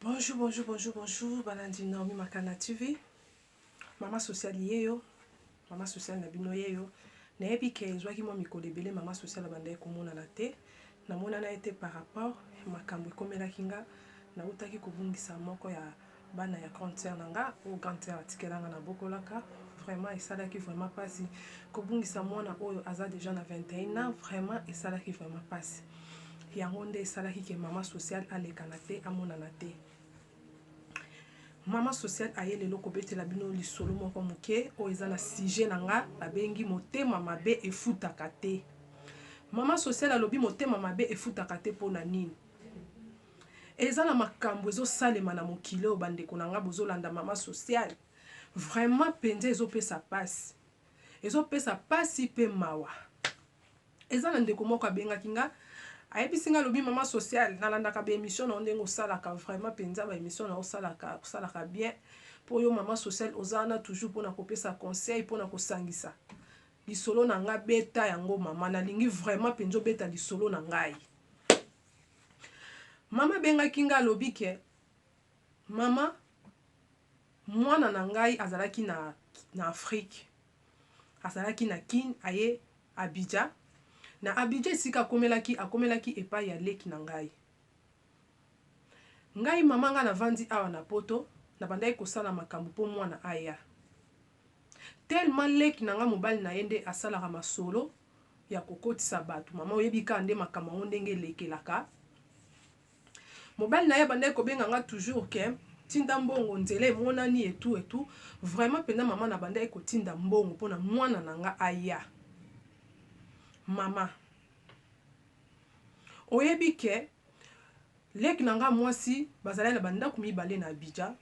Bonjour, bonjour, bonjour, bonjour, balandi Naomi Makana TV. Mama social yeyo, mama social na bino yeyo. Nayebi ke ezwaki mwa mikolo ebele mama social abandaki komonana te. Namonana ye te par rapport makambo ekomelaki nga, nautaki kobungisa moko ya bana ya grande sœur na nga oyo grande sœur atikela nga nabokolaka vraiment esalaki vraiment pasi kobungisa mwana oyo aza dejà na 21 ans vraiment esalaki vraiment pasi yango nde esalaki ke mama sociale alekana te amonana te mama sociale aye lelo kobetela bino lisolo moko moke oyo eza na sujet na nga babengi motema mabe efutaka te mama sociale alobi motema mabe efutaka te mpo na nini Eza na makambu ezo salema na mokili oyo ba ndeko na nga bozo landa maman social vraiment penza ezo pesa pasi ezo pesa pasi pe mawa eza na ndeko moko abengaki nga ayebisi nga alobi maman social na landaka ba emission na yo ndenge osalaka vraiment penza ba emission na yo osalaka osalaka bien po yo maman social oza wana toujours pona kopesa conseil pona kosangisa lisolo na nga beta yango maman nalingi vraiment penza obeta lisolo na ngai Mama abengaki ngai, alobi ke, Mama, mwana na ngai azalaki na, na Afrique. Azalaki na Kin, aye Abidja. Na Abidja esika akomelaki, akomelaki epai ya leki na ngai. Ngai mama, ngai navandi awa na poto, nabandaki kosala makambo po mwana aya. Tellement leki na ngai mobali na ye nde asalaka masolo, ya kokotisa batu maman oyebi kaka nde makambo yango ndenge elekelaka mobali naye abandaki kobenga nga toujours ke tinda mbongo nzela emonani et tout et tout vraiment penza maman nabandaki kotinda mbongo pona mwana na nga aya maman oyebi ke leki na nga mwasi bazalaki na ba ndaku mibale na Abidjan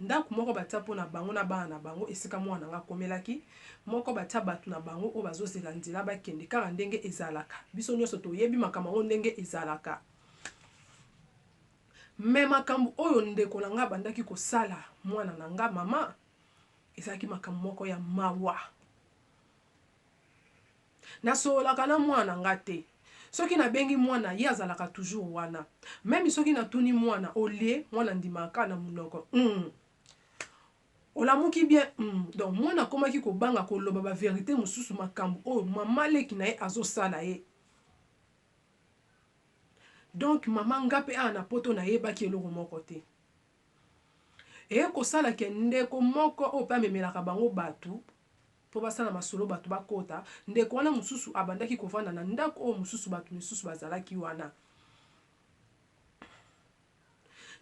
Ndako moko batia mpo na bango na bana na bango esika mwana na ngai akomelaki, moko batia bato na bango oyo bazozela nzela bakende, kaka ndenge ezalaka. Biso nyonso toyebi makambo yango ndenge ezalaka. Mais makambo oyo ndeko na ngai abandaki kosala mwana na ngai, mama, ezalaki makambo moko ya mawa. Nasololaka na mwana na nga te. Soki nabengi mwana, ye azalaka toujours wana. Meme soki natuni mwana, au lieu, mwana andimaka kaka na munoko, Hum! Olamuki bien? Hum! Donc, mwana akomaki kobanga koloba ba verites mosusu, makambu oyo mama leki na ye azosala ye. Donc, mama nga pe awa na poto nayebaki eloko moko te. Eye kosala ke ndeko moko oyo pe amemelaka bango batu po basala masolo batu bakota, ndeko wana mosusu abandaki kovanda na ndako oyo mosusu batu misusu bazalaki wana.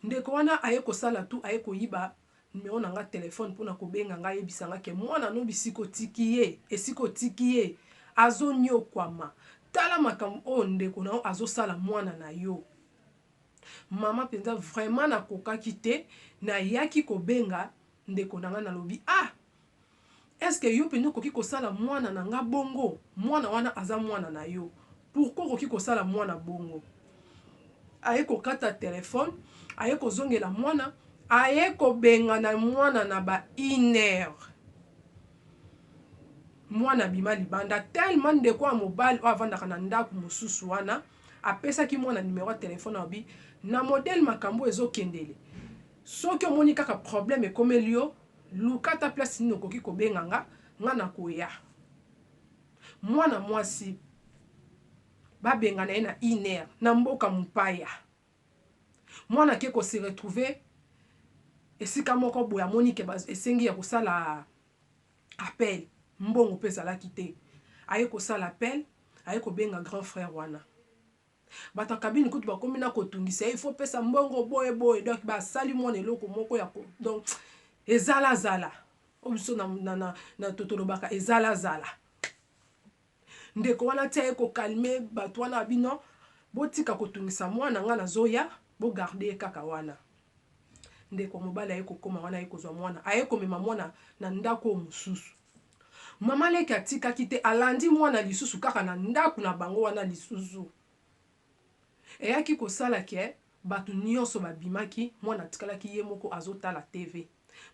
Ndeko wana aye kosala tout aye koyiba numero na nga telephone pona kobenga nga ayebisa nga ke mwana no bisika otiki ye, esika otiki ye azoniokwama. Tala makambo oyo ndeko na yo azosala mwana na yo. Maman penza vraiment na kokaki te na yaki ko benga ndeko na nga na lobi ah est ce que yo penza okoki ko sala mwana na nga bongo mwana wana aza mwana na yo pourquoi okoki ko sala mwana bongo aye ko kata telephone aye ko zongela mwana aye ko bengana mwana na ba une heure mwana abima libanda tellement ndeko ya mobali oyo avandaka na ndaku mususu wana Apesaki mwana numero ya telephone alobi na modèle makambu oyo ezo kendele soki omoni kaka problème ekomeli yo luka ata place nini okoki kobenga nga nga nakoya mwana mwasi ba bengana ye na une heure na mboka mupaya mwana ake ko se retrouver esika moko boye amoni ke esengi ya kosala appel mbongo pe ezalaki te aye kosala appel aye kobenga grand frère wana batu ya cabine kutu bakomi na kotungisa ye il faut opesa mbongo boye boye donc basali mwana eloko moko ya ko donc ezala zala oyo biso na na na tolobaka ezala zala Ndeko wana tia ye ko calme batu wana ya bino botika kotungisa mwana nga nazoya bo garde ye kaka wana ndeko mobali aye kokoma wana aye kozwa mwana aye komema mwana na ndaku oyo mosusu maman leki atikaki te alandi mwana lisusu kaka na ndaku na bango wana lisusu eyaki kosala ke batu nionso babimaki mwana atikalaki ye moko azotala TV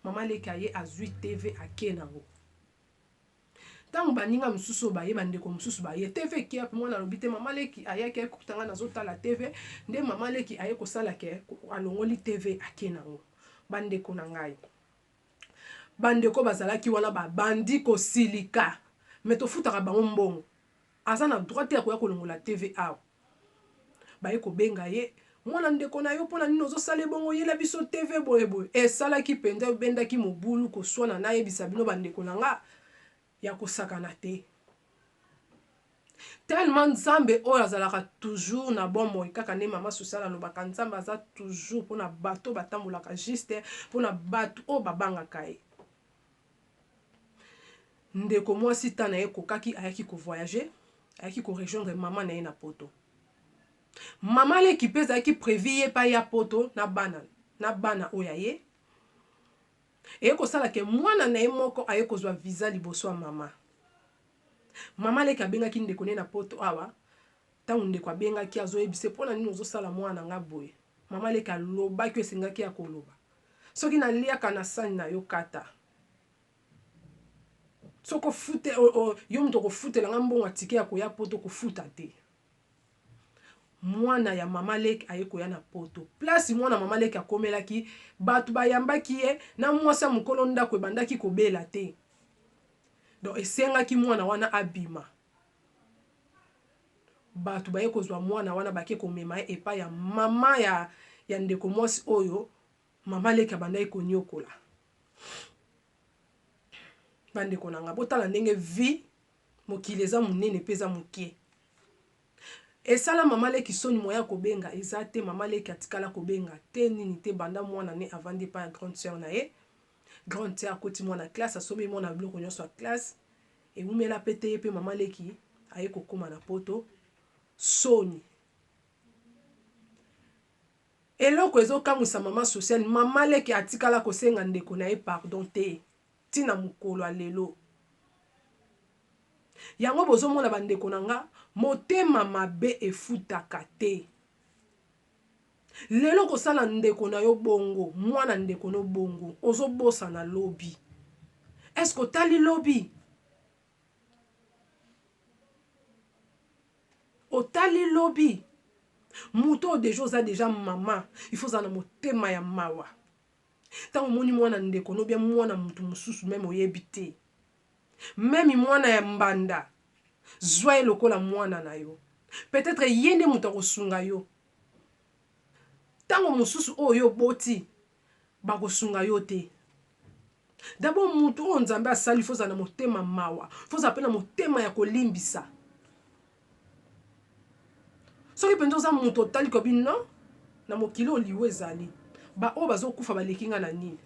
maman leki aye azwi TV ake nango Tango baninga mosusu oyo baye, bandeko mosusu baye TV kiep, mwana alobi te maman leki ayaki aye kokuta nga nazo tala TV, nde maman leki aye kosala ke alongoli TV ake nango. Bandeko na ngai. Bandeko bazalaki wana babandi kosilika mais tofutaka bango mbongo. Aza na droit te ya koya kolongola TV awa. Baye kobenga ye mwana ndeko na yo pona nini ozosala ye bongo yela biso TV boye boye esalaki penza ebendaki mobulu koswana nayebisa bino ba ndeko na nga ya kosakana te tellement nzambe oyo azalaka toujours na bomoi kaka nde mama sosiala alobaka nzambe aza toujours pona bato batambolaka juste pona bato oyo babangaka ye Ndeko mwasi temps naye ekokaki ayaki ko voyage ayaki ko rejoindre maman naye na poto maman leki pe ezalaki prevu ye pe aya poto na bana na bana oyo yaye eye kosala ke mwana naye moko aye kozua visa liboso ya maman maman leki abengaki ndeko naye na poto awa tangu ndeko abengaki azoyebisa ye pona nini ozosala mwana nanga boye Maman leki alobaki oyo esengaki ya koloba soki na liaka na sani na yo kata soki ofute yo moto okofutela nga mbongo ya tike ya koya poto kofuta te mwana ya mama leki aye koya na poto place mwana mama leki akomelaki bato bayambaki ye na mwasi ya mokolo ndako ebandaki kobela te donc esengaki mwana wana abima Batu baye kozua muana wana bake komema ye epai ya maman ya ya ndeko muasi oyo maman leki abandaki koniokola. Ba ndeko na nga botala ndenge vie mokili eza munene pe eza mukie. Esala maman leki soni moyen ya kobenga eza te maman leki atikala kobenga te nini te banda muana ne avandi epai ya grande soeur na ye. Grande soeur akoti muana classe asombeli muana biloko nionso ya classe. Ewumela pe te ye pe maman leki aye kokoma na poto soni eloko ezo kamwisa maman social maman leki atikala kosenga ndeko naye pardon te ti na mukolo ya lelo yango bozo mona ba ndeko na nga motema mabe efutaka te Lelo okosala ndeko na yo bongo, mwana ndeko no bongo, ozo bosana lobi. Est ce que otali lobi? Otali lobi? Moto oyo deja oza deja mama, il faut ozala na motema ya mawa. Tango omoni mwana ndeko no ou bien mwana mutu mosusu meme oyebi te, Meme mwana ya mbanda zua ye lokola mwana na yo peut etre ye nde mutu akosunga yo tango mususu oyo yo oboti bakosunga yo te dabord mutu oyo nzambe asali faut ozala na motema mawa faut ozala pe na motema ya kolimbisa. Soki penza oza mutu otali kobi non na mokili oyo liwa ezali ba oyo bazo kufa baleki nga na nini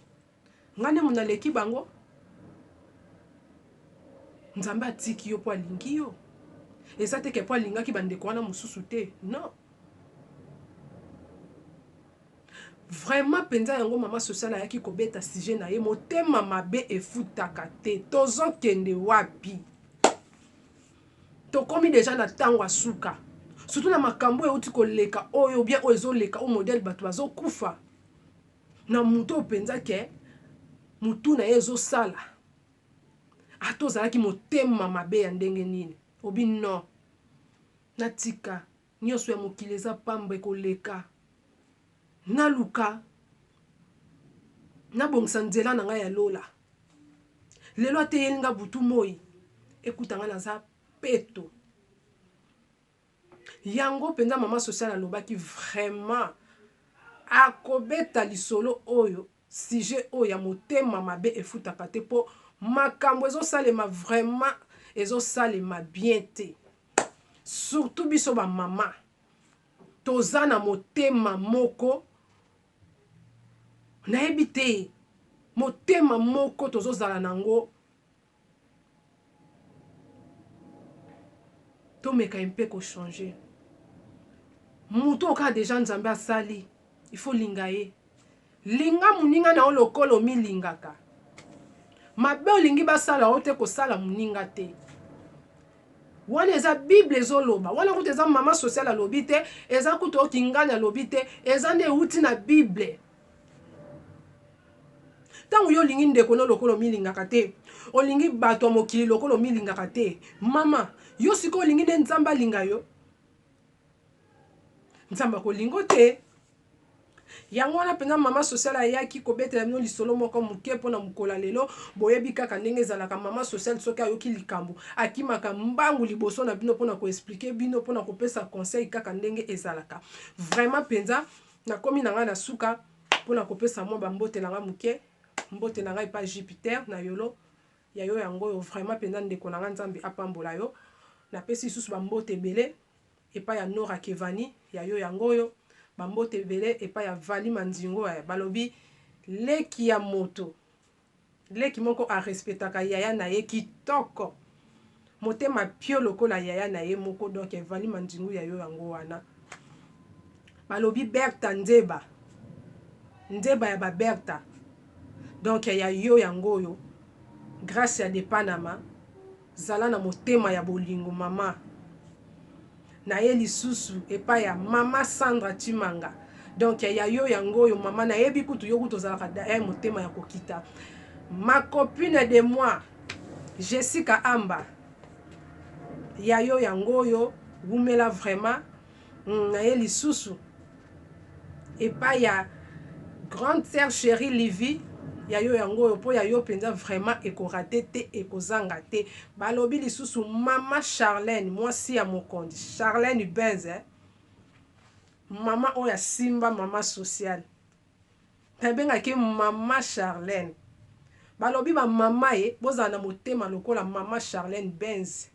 nga nde mutu naleki bango nzambe atiki yo po alingi yo eza te ke po alingaki ba ndeko wana mususu te non vraiment penza yango mama social ayaki kobeta sujet na ye motema mabe efutaka te tozo kende wapi Tokomi dejà na tango ya suka surtout na makambu oyo ewuti koleka oyo ou bien oyo ezo leka oyo modèle batu bazo kufa na mutu oyo penza que mutu na ye ezo sala ata ozalaki motema mabe ya ndenge nini obi non natika Nionso ya mokili eza pamba ekoleka naluka nabongisa nzela na nga ya lola lelo ateyeli nga butu moyi ekuta nga naza peto yango penza mama social alobaki vraiment akobeta lisolo oyo sujet oyo ya motema mabe efutaka te po makambo ezosalema vraiment ezosalema bien te. surtout biso ba mama toza na motema moko nayebi te motema moko tozozala nango tomeka ye mpe kochange moto oyo kaka deja nzambe asali ifo linga ye Linga moninga na yo lokola omilingaka. Mabe olingi basala yo te kosala moninga te. Wana eza bible ezo loba. Wana kutu eza maman social alobi te, eza kutu oyo kingani alobi te, eza nde ewuti na bible. Tango yo olingi ndeko no lokola omilingaka te, olingi batu ya mokili lokola omilingaka te, maman yo sikoyo olingi nde Nzambe alinga yo? Nzambe akolingo te. Yango wana mpenza mama sociale ayaki kobetela bino lisolo moko moke mpo na mokolo ya lelo. Boyebi kaka ndenge ezalaka, mama sociale soki ayoki likambo, akimaka mbangu liboso na bino mpo na ko expliquer bino, mpo na kopesa conseil kaka ndenge ezalaka. Vraiment mpenza, nakomi na ngai na suka mpo na kopesa mwa ba mbote na ngai moke. Mbote na ngai epai ya Jupiter na Yolo. ya yo yango oyo vraiment penza ndeko na nga nzambe apambola yo na pesi lisusu ba mbote ebele epai ya nora kevani ya yo yango oyo ba mbote ebele epai ya vali mandingo eh balobi leki ya moto leki moko a respetaka yaya na ye kitoko. Motema pio lokola yaya na ye moko donc evali mandingu ya yo yango wana balobi berta nzeba nzeba ya ba berta donc ya yo yango oyo gracia de panama zala na motema ya bolingo maman. naye lisusu epa ya mama Sandra tshimanga donc ya yo yango oyo mama nayebi kutu yo kutu ozalaka eh motema ya kokita ma copine de moi Jessica Amba ya yo yango oyo wumela vraiment naye lisusu epai ya grande sœur cherie Livy ya yo yango oyo po ya yo penza vraiment eko rate te ekozanga te balobi lisusu maman Charlène mwasi ya mokonzi Charlène Benz eh maman oyo asimba maman sociale na bengaka ye maman Charlène balobi ba maman ye bozala na motema lokola maman Charlène Benz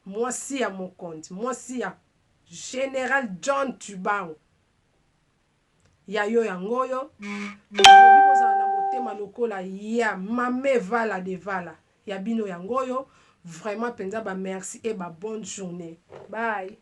mwasi ya mokonzi mwasi ya General John Tshibangu ya yo yango oyo olobi bozala na motema lokola ya Mame Vala de Vala ya bino yango oyo vraiment penza ba merci et ba bonne journee bye.